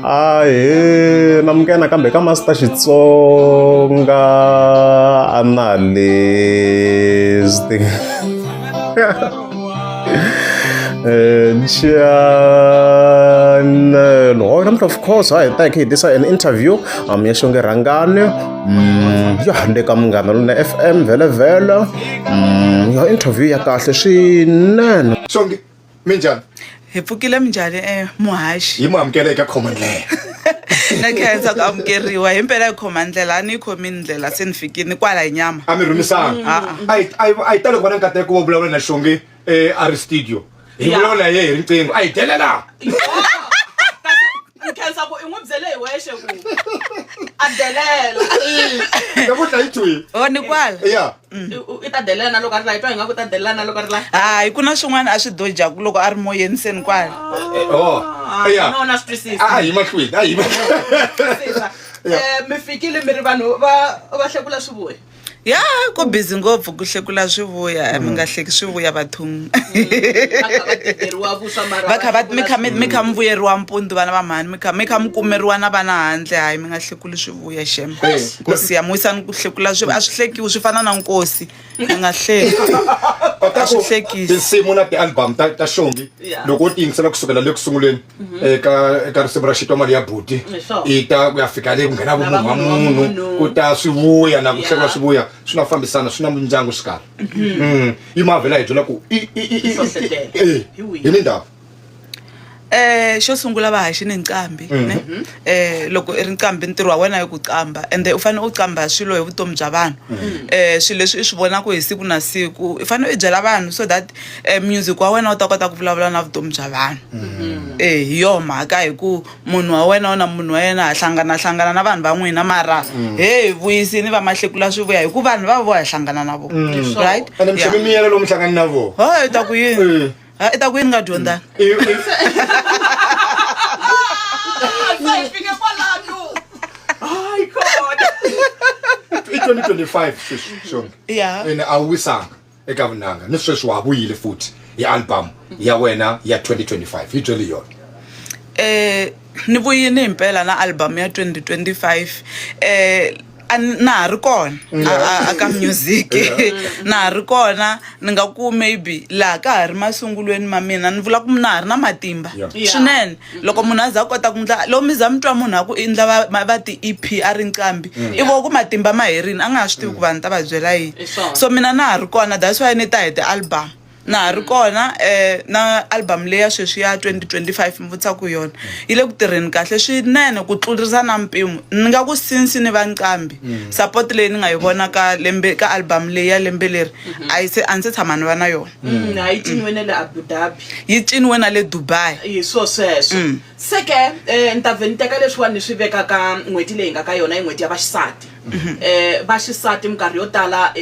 a hi na mukena kambe ka master xitsonga a na lesti chanel hoy namuhla of course hayi ta hi tisa an interview um ya xonge rhangani um yo hande ka munghana lona f m vhele vhele um yo interview ya kahle swinene minjhani hi pfukile minjhani eh, muhaxi yi mu amukela eka khoma ndlela na khensa ku amukeriwa hi mpela hi khoma ndlela a ni yi khomi ndlela se ni fikini kwala hi nyama a mi rhumisanga Ah, a hi- a hi- a hi tali ku va na nkateko wo vulavula na xonge eh, a ri studio hi Ya. vulavula ye hi riqingho a hi delela ni khensa ku i n'wi byele hi wexe ku a delela namuntlha yi thwile o ni kwala ya Mm. i ta delela na loko a ri la i twa hi nga ku ta delela na loko a ri la hayi ku na swin'wana a swi dojaku loko a ri moyeni se ni kwala nona swi twisisa a hi mahlweni a hi mi fikile mi ri vanhu va va hlekula swi vuya ya ku busy ngopfu ku hlekula swi vuya mi nga hleki swi vuya bathong mi kha mi vuyeriwa mpundu vana va mhani mi kha mi kha mi kumeriwa na vana handle hayi mi nga hlekuli swi vuya xem nkosi yam wisani ku hlekula a swi hlekiwi swi fana na nkosi a nga hleki a swi hlekisi tinsimu na ti-album ta ta xongi loko u ti yingisela kusukela le ku sunguleni mhm. eka eka risimu ra xitwa mali ya buti i ta ku ya fika le ku nghena vumunhu wa munhu ku ta swi vuya na ku hlekula swi vuya swi nga fambisana swi na mindyangu swi karhi mhm. mm. yi mavhela hi byela ku hi ni ndhawu Eh xo sungula va haxi ni nqambi mm-hmm. ne eh loko i ri nqambi ntirho wa wena i ku qamba ende u fanele u qamba swilo hi vutomi bya vanhu mm-hmm. eh swilo leswi i swi vonaka hi siku na siku i fanele i byela vanhu so that eh, music wa wena u ta kota ku vulavula na vutomi bya vanhu mm-hmm. eh hi yo mhaka hi ku munhu wa wena u na munhu wa yena a hlangana hlangana na vanhu van'wina mara mm. he hi vuyisini va mahlekula swi vuya hi ku vanhu va vo ya hlangana na vo mm. right ene mixaka miyelo lomu hlangani na vo ha hi ta ku yini eh. Ha, i ta ku yini nga dyondzanga i 2025 sweswi xona Yeah. ene a wu wisanga eka vunanga ni sweswi wa ha vuyile futhi hi album ya wena ya 2025 yi byeli yona um ni vuyini hi mpela na album ya 2025 eh a ni- na ha ri kona a- a- aka music na ha ri kona ni nga ku maybe laha ka ha ri masungulweni ma mina ni vula ku na ha ri na matimba Yeah. Yeah. swinene loko munhu a za a kota ku ndla loko mi za mi twa munhu a ku i ndla va- ma- va ti-ep a ri nqambi i vo ku matimba ma herini a nga ha swi tivi ku vanhu ta va byela yini Hi swona. so mina na ha ri kona that's why ni ta hi ti-album na ha ri kona um na album leya sweswi ya 2025 mi vutisa ku yona yi le ku tirheni kahle swinene ku tlurisa na mpimo ni nga ku sinsi ni va nqambi mm. support leyi ni nga yi vona ka lembe ka album leyi ya lembe leri mm-hmm. a yi se a ni se tshama ni va na yona mm. Mm, yi ciniwe na le abu dhabi yi ciniwe na le dubai hi swo sweswo se ke um ni ta vhe ni teka leswiwani ni swi veka ka n'hweti leyi nga ka yona yi n'hweti ya vaxisati um va xisati minkarhi yo tala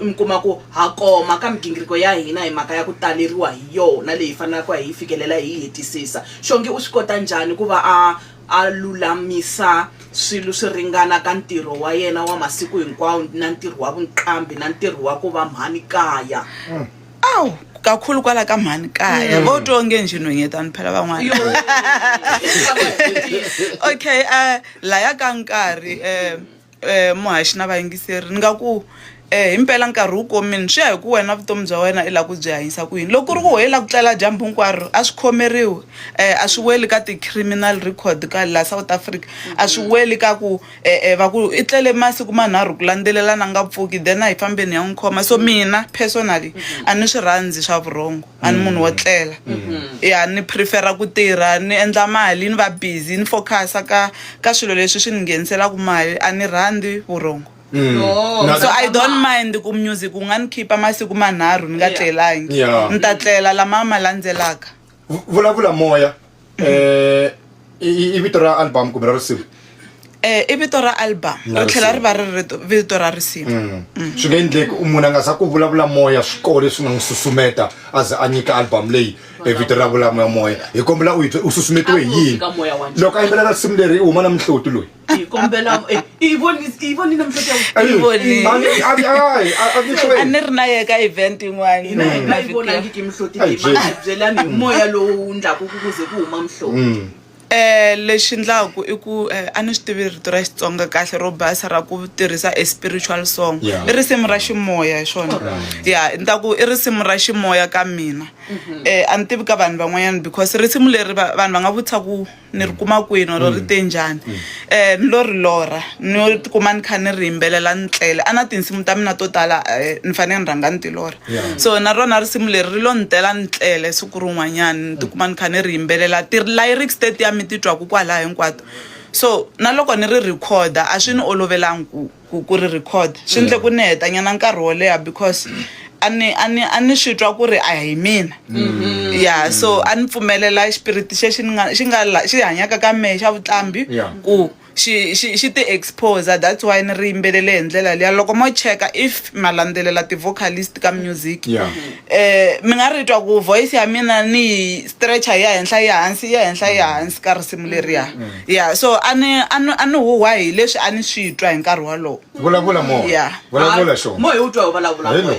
mi kuma ku ha koma ka migingiriko ya hina hi mhaka ya ku taleriwa hi yona leyi fanelaka hi yi fikelela hi yi hetisisa xongi u swi kota njhani ku va a a lulamisa swilo swi ringana ka ntirho wa yena wa masiku hinkwawo na ntirho wa vunqambi na ntirho wa ku va mhani kaya awu kakhulu kwala ka mhani kaya mm. vo twa onge njhe nhwenyetani phela van'wana okay um laya ka nkarhi um um muhaxi na vayingiseri ni nga ku eh impela nkarhi wu komini swi ya hi ku wena vutomi bya wena i la ku byi hanyisa ku yini loko ku ri ku ho yi la ku tlela dyambu hinkwaro a swi khomeriwi um a swi weli ka ti-criminal record ka la south africa a swi weli ka ku e-e va ku i tlele masiku manharhu ku landzelelana nga pfuki then a hi fambeni ya n'wi khoma so mina personally a ni swi rhandzi swa vurhongo a ni munhu wo tlela ya ni prefera ku tirha ni endla mali ni va busy ni focusa ka ka swilo leswi swi ni ngheniselaku mali a ni rhandzi vurhongo Oh. so i don't mind ku music wu nga ni khipa masiku manharhu ni nga Yeah. tlelangi Yeah. ni ta tlela lama ma landzelaka Vu- vulavula moya eh i i- i vito ra album kumbe ra risimu um i vito ra album Na ri tlhela ri risimu. va ri ri rito- vito ra risimu Mm. swi nga endleki u munhu a nga za ku vulavula moya swi kona leswi nga n'wi susumeta a ze a nyika album leyi e vito ra vulamoya moya hi kombela u hi byela u susumetiwe hi yini loko a yimbelela risimu leri i huma na minhloti loyi hi kombela eh, i voni- i vonile mihleto ya Hey, Ivone. a ni- a ni- ai, a- a ni a hlweli. ni ri na ye ka event yin'wana hina hi nga yi mavhiki ya- vonangiki mihloti Ai, leyi Jane. mabyelani hi moya lowu wu ndlaku ku kuze ku huma mihloti Mm. Eh, lexi ndlaku i ku eh, a ni swi tivi rito ra xitsonga kahle ro basa ra ku tirhisa a spiritual song Yeah. i risimu ra ximoya hi swona ya ni ta ku i risimu ra ximoya ka mina um a ni tivi ka vanhu van'wanyana because risimu leri va- vanhu va nga vutisa ku ni ri kuma kwini oro ri mm. te njhani um eh, ni lo ri lorha ni tikuma ni kha ni ri yimbelela ni tlele a na tinsimu ta mina to tala eh, ni fanele ni rhanga ni ti lorha so na rona risimu leri ri lo ni tela ni tlele siku rin'wanyana ni tikuma ni kha ni ri yimbelela ti-lyrics tetiya mi titwaka kwalaha hinkwato so na loko ni ri rhikhoda a swi ni olovelangi ku ku ku ri record swi ndle ku ni hetanyana nkarhi wo leha because a ni a ni a ni swi twa ku ri a hi mina ya so a ni pfumelela xipiriti xexi ni nga xi nga la- xi hanyaka ka mehe xa vuqambi Yeah. ku xi xi xi ti exposer that's why ni ri yimbelele hi ndlela liya loko mo cheka if ma landzelela ti-vocalist ka music Yeah. eh mi nga ri twa ku voice ya mina ni yi stretcher ya henhla ya hansi ya henhla ya hansi ka risimu leriya ya so a ni a ni a ni huhwa hi leswi a ni swi twa hi nkarhi wolowo vulavula mo ya vulavula xo mo hi u twa hi vulavula mo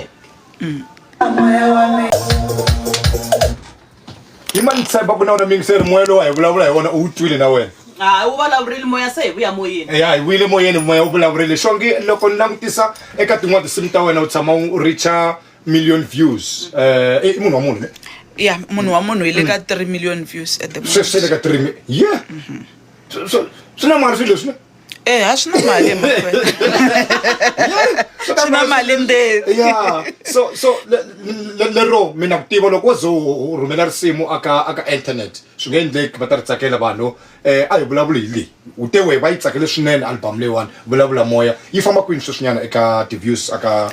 hi mani tshemba ku na wona mingiseri moya lowu a hi vulavula hi wona u wu twile na wena hayi wu vulavurile moya se hi vuya moyeni ya hi vuyile moyeni moya wu vulavurile xongi loko ni langutisa eka tin'wana tinsimu ta wena u tshama u richa million views eh i munhu wa munhu ne ya munhu wa munhu hi le ka 3 million views at the se se le moment ka 3 mi yeah So- so swi na mali swilo leswi ne eh ha swi na mali emakwenu Swi na swi na mali ndevu yeah so so le- le- lero mina ku tiva loko wo ze u- u rhumela risimu aka aka internet swi nga endleki va ta ri tsakela vanhu eh a hi vulavuli hi leyi u te wehe va yi tsakele swinene album leyiwani vulavula moya yi famba kwini sweswinyana eka ti-views aka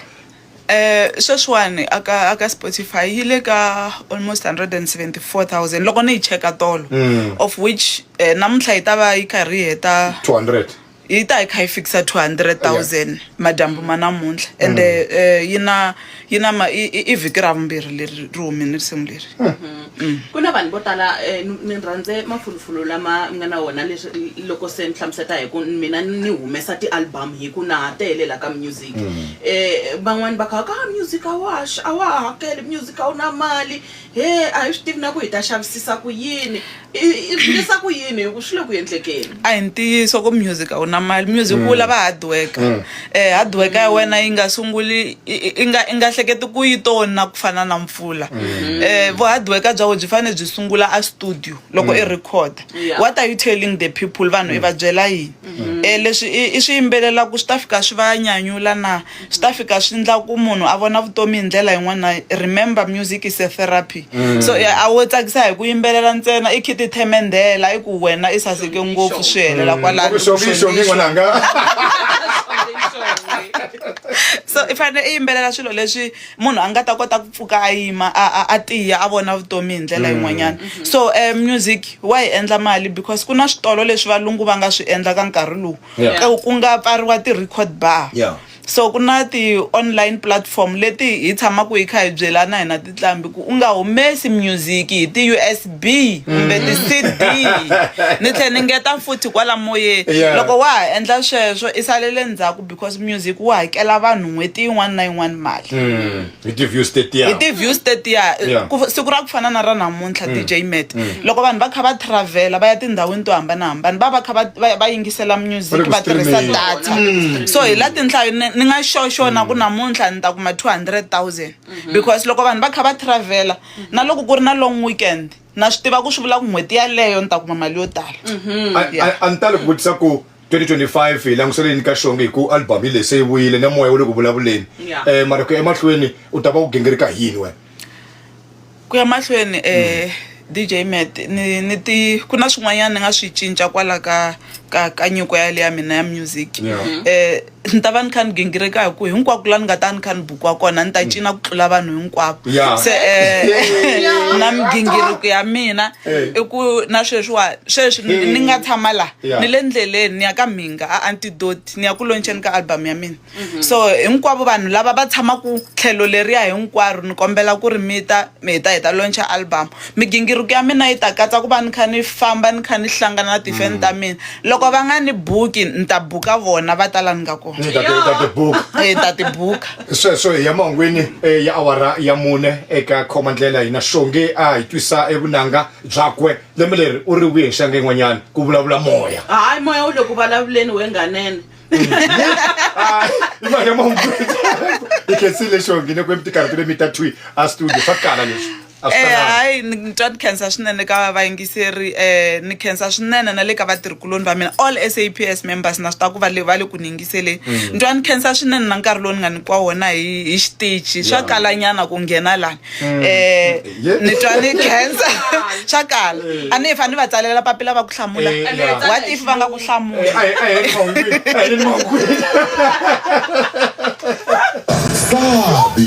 Sweswiwani a ka a ka Spotify yi le ka almost 174000 loko ni yi cheka tolo mm. of which eh, namuntlha yi ta va yi karhi yi heta 200 yi ta yi kha yi fikisa 200000 madyambu ma namuntlha mm. ende eh, yi na yi na i vhiki ra vumbirhi leri ri humini risimu leri mm. ku na vanhu vo tala eh, ni rhandze mafulufulu lama mi nga na wona leswi loko se ni hlamuseta hi ku mina ni humesa ti-album hi ku na ha tele la ka music music mm. eh van'wani va kha ka ah, music a wa a wa hakeli music a wu na mali he a hi swi tivi na ku hi ta xavisisa ku yini i vulisa ku yini hi ku swi le ku endlekeni a hi ntiyiso ku music a wu na mali music wu mm. lava hard worker mm. eh hard worker ya wena yi nga sunguli i nga i nga hleketi ku yi tona ku fana na mpfula mm. eh vu hard worker bya wena byi fanele byi sungula a studio loko i record what are you telling the people vanhu i va byela yini Mm-hmm. e leswi i swi yimbelelaku swi ta fika swi va nyanyula na swi ta fika swi ndla ku munhu a vona vutomi hi ndlela yin'wana remember music is a therapy mm. so a wo tsakisa hi ku yimbelela ntsena i khiti themendela i ku wena i saseke ngopfu swi helela mm. kwalano so i fanele i yimbelela swilo leswi munhu a nga ta kota ku pfuka a yima a tiya a vona vutomi hi ndlela mm. yin'wanyana mm-hmm. so um music wa hi endla mali because ku na switolo leswi valungu va nga swi endla ka nkarhi lowu ku nga pfariwa ti-record bar so ku na ti-online platform leti hi tshamaka hi kha hi byelana hina titlambi ku u nga humesi music hi ti-u s b kumbe mm. ti-c d ni tlhela ni ngeta futhi kwala moyeni loko wa ha endla sweswo i salele ndzhaku because music wu hakela vanhu n'hweti yin'wana na yin'wana mali mm, hi ti-views tetiya hi ti-views tetiya siku ra ku fana na ra namuntlha mm. dj met mm. loko vanhu va kha va travela va ya tindhawini to hambanahambana va va kha va yingisela music va tirhisa data so hi la tinhlayo ni nga xoxo na ku namuntlha ni ta kuma two hundred thousand mm-hmm. because loko vanhu va kha va travela na loko ku ri na long weekend na swi tiva ku swi vula ku n'hweti yaleyo ni ta kuma mali yo tala mm-hmm. a ni tali ku vutisa ku 2025 hi langusele yini ka xonge hi ku album yi leyi se yi vuyile na moya wu le ku vulavuleni Yeah. um mara ku ya emahlweni u ta va u gingirika hi yini wena ku ya mahlweni um dj met ni ni ti ku na swin'wanyana ni nga swi cinca kwala ka ka ka nyiko yale ya mina ya music Yeah. um Ni ta va ni kha ni gingirika hi ku hinkwako laha ni nga ta ni kha ni bukiwa kona ni ta mm. cina ku tlula vanhu hinkwavo se um na migingiriko ya mina eh. i ku na sweswiwa sweswi eh. ni nga tshama laha ni le ndleleni ni ya ka mhinga a antidoti ni ya ku loncheni ka album ya mina mm-hmm. so hinkwavo vanhu lava va tshamaka tlhelo leriya hinkwaro ni kombela ku ri mi ta mi hi ta hi ta loncha album Migingiriko ya mina yi ta katsa ku va ni kha ni famba ni kha ni hlangana na tifeni ta mina loko va nga ni buki ni ta buka vona va ta la ni nga kona Ni ta ti- ta tibuka Eh, ta ti buka sweswo hi ya mahungwini eh, ya awara ya mune eka khoma ndlela hina xonge a hi twisa evunanga byakwe lembe leri u ri wihi nxanga yin'wanyana ku vulavula moya hayi moya wu le ku vulavuleni wenganene Ay, imali ya mahungwini i khensile xonge ne ku emitikarhi tile mi ta twi a studio swa kala leswi a swi Eh, talanga. hayi ni ni twa ni khensa swinene ka vayingiseri um ni khensa swinene na le ka vatirhikuloni va mina all saps members na swi tiva ku va le va le ku ni yingiseleni Mm. ni twa ni khensa swinene na nkarhi lowu ni nga nyikiwa wona hi hi xitichi swa Yeah. kalanyana ku nghena lani Mm. um Yeah. ni twa ni khensa swa kala a ni hi fanele va tsalela papila va ku hlamula Eh, yeah. what if va nga ku hlamula Eh, a hi- a hi ri mahungwini, a hi ri mahungwini. Gabi